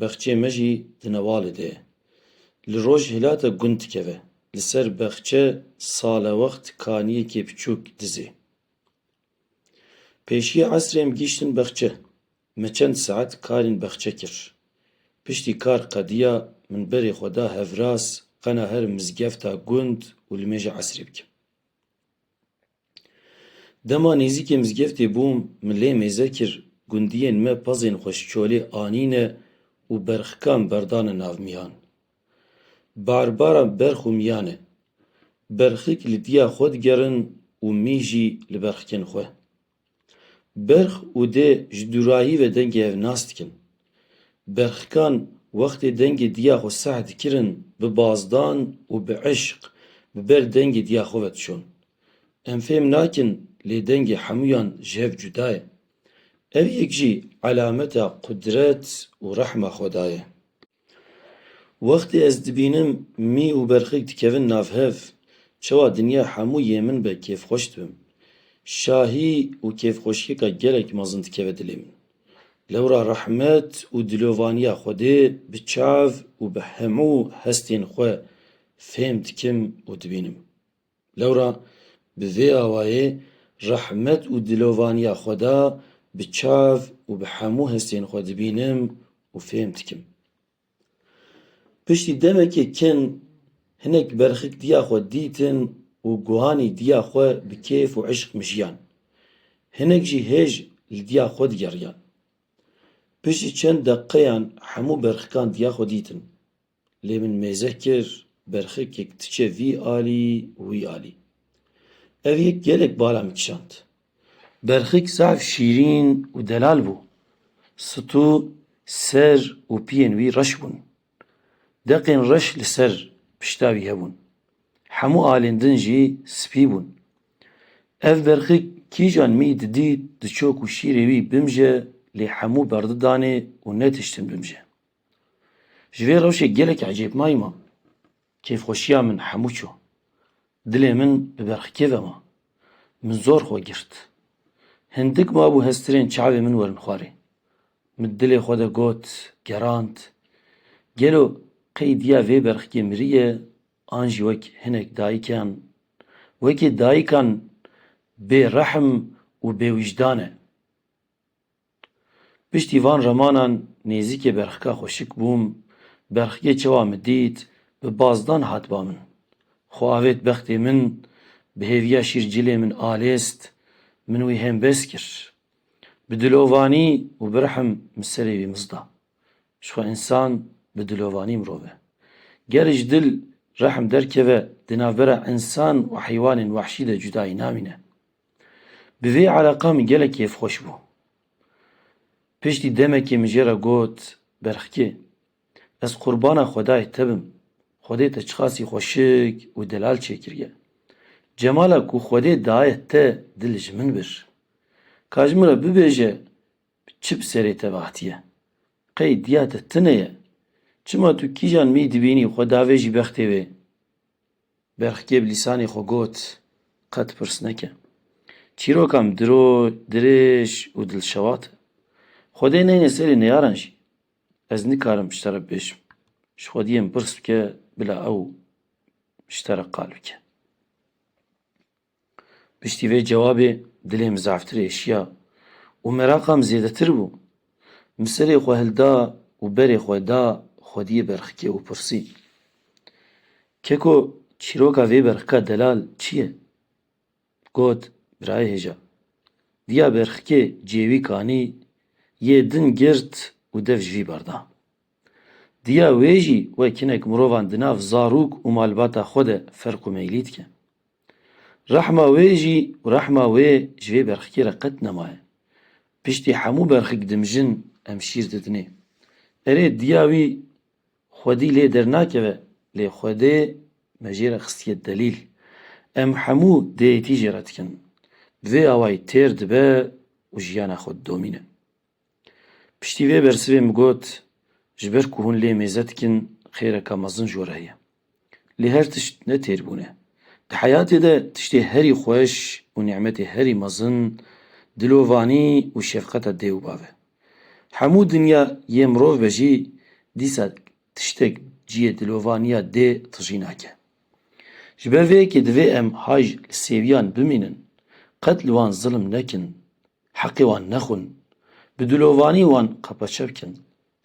Bexçeyê me jî di Newalê de ye. Li rojhilata gund dikeve. Li ser bexçe salewext kaniyekê piçûk dizê. Pêşiyê esrê em gihîştin bexçe. Me çend saet karên bexçe kir. Piştî kar qediya min berê xwe da hevras qena her mizgefta gund û li mêja esrê bikim. Dema nêzîkê mizgeftê bûm, min lê mêze kir, gundiyên me pezên xwe ji çolê anîne û berxikan berdane nav miyan. Barbaran berx û miyan e. Berxik li diya xwe digerin û mî jî li berxikên xwe. Berx û dê ji dûrahî ve dengê hev nas dikin. Berxikan wextê dengê diya xwe seh dikirin bi bazdan û bi eşq bi ber dengê diya xwe ve dişon. Em fêm nakin lê dengê hemûyan ji hev cuda ye. Ev yek jî elameta qudret û rehma xweda ye. Wextê ez dibînim mî û berxik dikevin nav hev, çawa dinya hemû yê min be kêfxweş dibim. Şahî û kêfxweşiyeka gelek mezin dikeve dilê min. Lewra rehmet û dilovaniya Xwedê bi çav û bi hemû hestên xwe fêm dikim û dibînim. Lewra bi vê awayê rehmet û dilovaniya Xweda bi çav û bi hemû hestên xwe dibînim û fêm dikim. Piştî demekê kin hinek berxik diya xwe dîtin û guhanî diya xwe bi kêf û îşq mijiyan. Hinek jî hêj li diya xwe digeriyan. Piştî çend deqeyan hemû berxikan diya xwe dîtin. Lê min mêze kir berxekek diçe vî alî û wî alî. Ev yek gelek bala min kişand. Berxek zaf şîrîn û delal bû. Stû, ser û piyên wî reş bûn. Deqên reş li ser pişta wî hebûn. Hemû alên din jî spî bûn. Ev berxek kîjan mî didît diçok û şîrê wî bimje lê hemû berdidanê û netiştin bimje. Ji vê rewşê gelek ecêbnayî ma. Kêfxweşiya min hemû çû. Dilê min bi berxikê ve ma. Min zor xwe girt. Hindik mabû hestirên çavê min werin xwarê. Min dilê xwe de got, gerand, Gelo qey diya vê berxikê miriye an jî wek hinek dayikan, wekî dayikan bêrehm û bêwîjdan e. Piştî van remanan nêzîkê berxika xwe şik bûm, berxikê çawa min dît, bi bazdan hat ba min. Xwe avêt bextê min, bi hêviya şîr cilê min alêst, min wî hêm bes kir. Bi dilovanî û bi rihim min serê wî miz da. Ji xwe însan bi dilovanî mirov e. Ger ji dil rihim derkeve, di navbera însan û heywanên wehşî de cudayî namîne. Bi vê ereqa min gelek kêfxweş bû. Piştî demekê min jê re got, Berxkê, ez qurbana xwedayê te bim, xwedê te çiqasî xweşik û delal çêkiriye. Cemala ku xwedê daye te dil ji min bir. Ka ji min re bibêje çi bi serê te ve hatiye. Qey diya te tune ye. Çima tu kîjan mî dibînî xwe davêjî bextê wê? Berxkê bi lîsanê xwe got, Qet pirs neke. Çîroka min diro, dirêj û dilşewat e. Xwedê neyne serê neyaran jî. Ez nikarim ji te re bibêjim. Ji xwediyê min pirs bike bila ew ji te re qal bike. Piştî vê cewabê dilê min zaftir ê şiya û meraqa min zêdetir bû. Min serê xwe hilda û berê xwe da xwediyê berxikê û pirsî, Keko çîroka vê berxika delal çi ye? Got, Birayê hêja, diya berxikê cêwî kanî yê din girt û dev ji vî bar da. Diya wê jî wek hinek mirovan di nav zarok û malbata xwe de ferq û meylî dike. Rehma wê jî û rehma wê ji vê berxikê re qet nemaye. Piştî hemû berxik dimijin em şîr didinê. Erê diya wî xwedî lê dernakeve lê xwedê me jê re xistiye delîl. Em hemû dêyîtî jê re dikin. Bi vê awayî têr dibe û jiyana xwe didomîne. Piştî vê bersivê min got, Ji ber ku hûn lê mêze dikin xêreke mezin ji we re heye. Lê her tişt ne têr bûn e. Di heyatê de tiştê herî xweş û nîmetê herî mezin dilovanî û şefqeta dê û bav e. Hemû dinya yê mirov be jî dîsa tiştek cihê dilovaniya dê tijî nake. Ji ber vê yekê divê em hay li sêwiyan bimînin, qet li wan zilm nekin. Heqê wan nexwin. Bi dilovanî wan qepeçe bikin.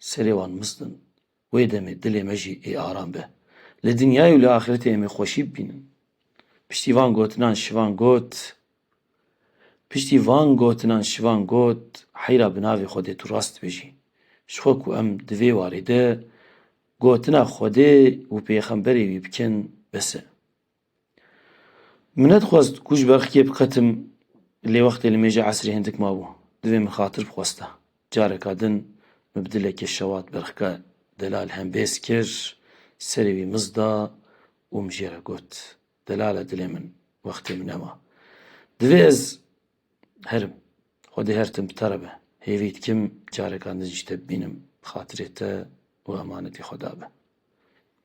Serê wan mistin. Wê demê dilê me jî ê aram be. Li dinyayê û li axiretê em ê xweşî bibînin. Piştî van gotinan şivan got Piştî van gotinan şivan got Heyra bi navê Xwedê tu rast dibêjî. Ji xwe ku em di vê warê de gotina Xwedê û pêxemberê wî bikin bes e. Min nedixwest ku ji ber xikê biqetim lê wextê li mêja esrê hindik mabû. Divê min xatir bixwesta. Careka din min bi dilekê şewat ber xike Delal hembêz kir, serê wî miz da û min jê re got, Delal e dilê min, wextê min e wa. Divê ez herim. Xwedê her tim bi te re be. Hêvî dikim careka din jî te bibînim bi xatirê te û emanetê xwe de be.